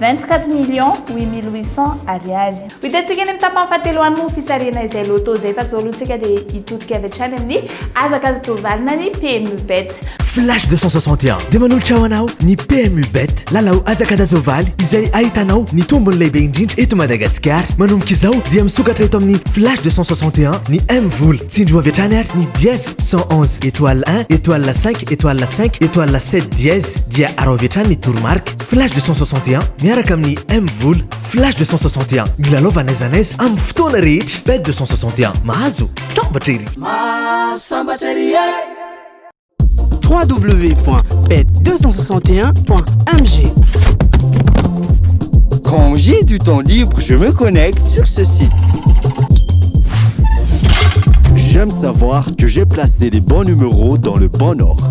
Vingt-quatre millions huit mille huit cents Ariary. Ho hitantsika any amin'ny tapany fahatelo any moa ny fisarihana izay Lotto izay fa izao aloha tsika dia hitodika avy hatrany amin'ny hazakazaka toa valina ny PMU Bet. Flash deux cent soixante et un dia manolotra ho anao ny PMU Bet, lalao hazakazazaovaly izay ahitanao ny tombony lehibe indrindra eto Madagasikara. Manomboka izao dia misokatra eto amin'ny Flash deux cent soixante et un ny M vola. Tsindrio avy hatrany ary ny dièse cent onze étoile un étoile cinq étoile cinq étoile sept dièse dia arao avy hatrany ny toromarika. Flash 261 miaraka amin'ny M Vola. Flash 261 milalaova n'aiza n'aiza amin'ny fotoana rehetra. Bet 261 mahazo sambatra ery. Mahasambatra ery e. www.bet261.mg Quand j'ai du temps libre, je me connecte sur ce site. J'aime savoir que j'ai placé les bons numéros dans le bon ordre.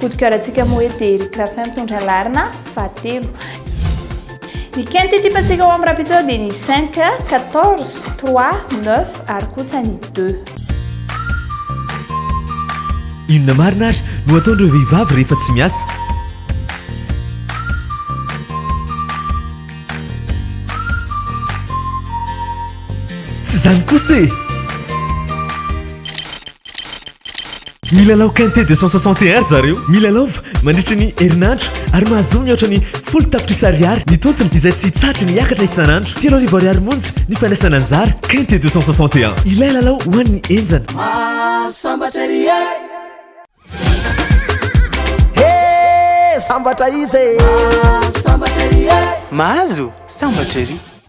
Coup de cœur antsika moa hoe dia Eric Raffin mitondra laharana fahatelo. Ny quinte ity patsika ao amin'ny rapitao dia ny 5, 14, 3, 9 ary kosa ny 2. Inona marina ary no ataon'ireo vehivavy rehefa tsy miasa? Tsy izany kosa e! Milalao Quinte 260 ry zareo. Milalaova mandritra ny herinandro ary mahazoa mihoatra ny folo tapitrisa ariary ny tontiny izay tsy hitsahatra ny hiakatra isan'andro. Telo arivo ariary monja ny fandraisana anjara. Quinte 261. Ilay lalao ho an'ny henjana. Mahasambatra ery e! He! Sambatra izy e! Mahasambatra ery e! Mahazo sambatra ery!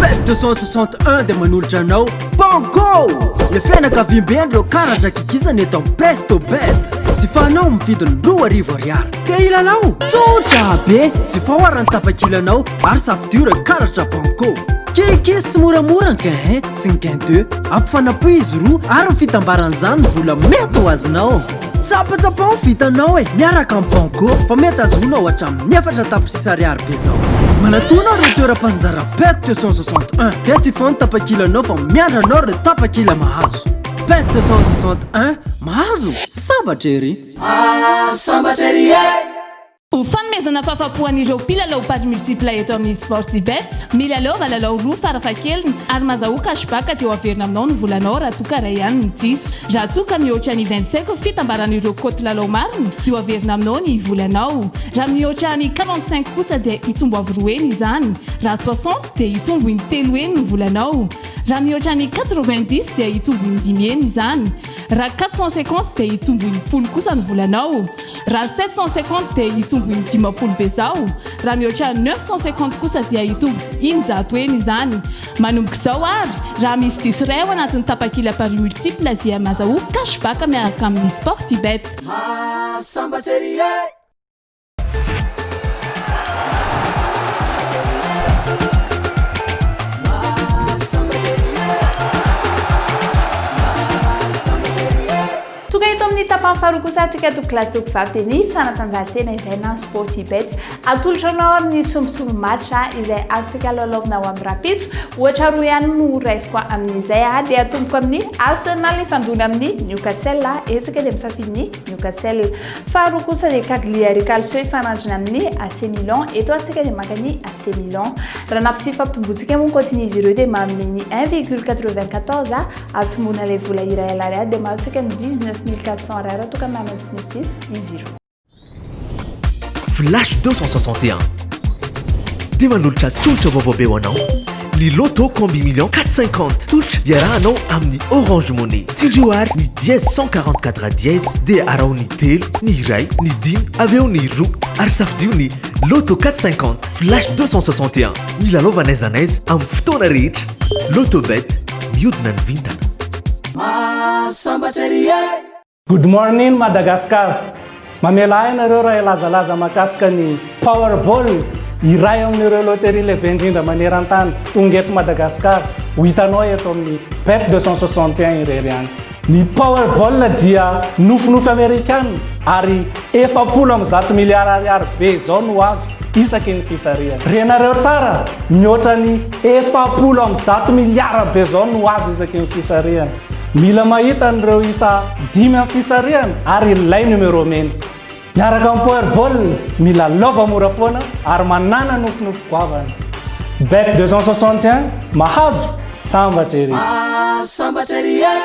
Pet 261 dia manolotra anao Banco! Le fianakaviambe ndreo karatra kikisana eto amin'ny Presto Bet. Tsy fanao amin'ny vidiny roa arivo ariary. Te hilalao? Tsotra be! Tsy fahoara ny tapakilanao ary safo dur karatra Banco. Kikis sy moramora ny gain 1 sy ny gain 2. Ampifanapohy izy roa ary ny fitambaran'izany ny vola mety ho azonao. Tsapatsapa ho vitanao e, miaraka amin'ny Banco fa mety azonao hatramin'ny efatra tapitrisa ariary be zao. Manatona ireo toeram-panjara PET 261 dia tsy foana tapakilanao fa miandry anao ireo tapakila mahazo. PET 261, mahazo? Sambatra ery! Ah, sambatra ery e! Ho fanomezana fahafapo an'ireo mpilalao paris multiple eto amin'ny Sportybet, milalaova lalao roa farafahakeliny ary mazahoa cashback dia ho averina aminao ny volanao raha toa ka iray ihany no diso. Raha toa ka mihoatra ny vingt cinq fitambaran'ireo cote lalao marina dia ho averina aminao ny volanao. Raha mihoatra ny quarante cinq kosa dia hitombo avo roa heny izany. Raha soixante dia hitombo in-telo heny ny volanao. Raha mihoatra ny quatre vingt dix dia hitombo in-dimy heny izany. Raha quatre cent cinquante dia hitombo enimpolo kosa ny volanao. Raha sept cent cinquante dia hitombo indimapolo bezao. Raha mihoatra neuf cent cinquante kosa dia hitombo eninjato heny izany. Manomboka izao ary, raha misy diso iray ao anatin'ny tapakila paris multiple dia mazahoa cash back miaraka amin'ny Sportybet. Maha sambatra ery e! Tonga eto amin'ny tapany faharoa kosa antsika to class to vavy dia ny fanatanjahantena izay na sporty bet atolotra anao amin'ny sombisomby match izay azontsika lalaovina ao amin'ny rapiso ohatra roa ihany no raisiko amin'izay dia atomboko amin'ny Arsenal ifandona amin'ny Newcastle eto isika dia misafidy ny Newcastle. Faharoa kosa ny Cagliari Calcio hifanandrina amin'ny AC Milan. Eto ary isika dia maka ny AC Milan. Raha nampy fifampitombontsika moa ny kaotin'izy ireo dia manome ny 1,94 hahatomboana ilay vola iray alariady dia mahazo isika ny 19 400 ariary raha toa ka manana tsy misy diso izy ireo. Flash 261. Dia manolotra tolotra vaovao be ho anao ny Lotto Combi Millions 450. Tolotra iarahanao amin'ny Orange Money. Tsindrio àry ny dièse 144 dièse dia araho ny telo, ny iray, ny dimy, avy eo ny roa ary safidio ny Lotto 450, Flash 261. Milalaova n'aiza n'aiza amin'ny fotoana rehetra. Lotto Bet, mihodina ny vintana. Mahasambatra ery e! Good morning Madagascar! Mamela ahy ianareo raha hilazalaza mahakasika ny Powerball, iray amin'ireo loterie lehibe indrindra maneran-tany, tonga eto Madagasikara, ho hitanao eto amin'ny Bet 261 irery ihany. Ny Powerball dia nofinofy Amerikana ary efapolo amby zato miliara ariary be izao no azo isaky ny fisarihana. Renareo tsara, mihoatra ny efapolo amby zato miliara be izao no azo isaky ny fisarihana. Mila mahita an'ireo isa dimy amin'ny fisarihana ary ilay numéro mena. Miaraka amin'ny Powerball, mila lova mora foana ary manàna nofinofy goavana. Bet 261, mahazo, sambatra ery! Ah, sambatra ery e!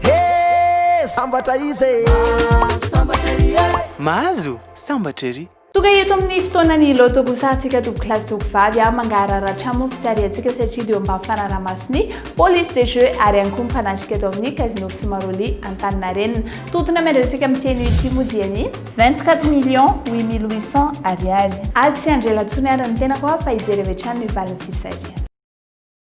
He, sambatra iza e! Ah, sambatra ery e! Mahazo, sambatra ery! Tonga eto amin'ny fotoanan'ny loto kosa antsika toby kilasy toby vavy a mangahararatra mofo tsy ariantsika satria dia mba fanaraha-mason'ny police des jeux ary ihany koa mpanatrika eto amin'ny casino Fimaroli Antaninarenina. Tontona miandrasika amin'ny tianio ity moa dia ny 24 millions 8800 ariary. Atsy handrela intsony ary ny tenako a fa hijery avy hatrany ny valin'ny fisarihana.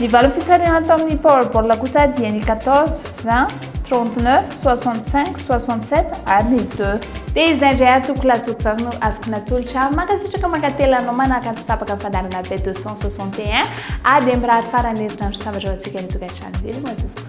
Ny valo fisarihana tao amin'ny Powerball kosa dia ny 14, 20, 39, 65, 67 ary ny 2. Dia izay indray ary tompoko Lasopy vavy no azoko natolotra. Mankasitraka mankatelina anao manaraka ny sabaka ny fandaharana B261. Ady e mirary faran'ny herinandro sambatra ho antsika any an-tokantrano. Veloma tompoko.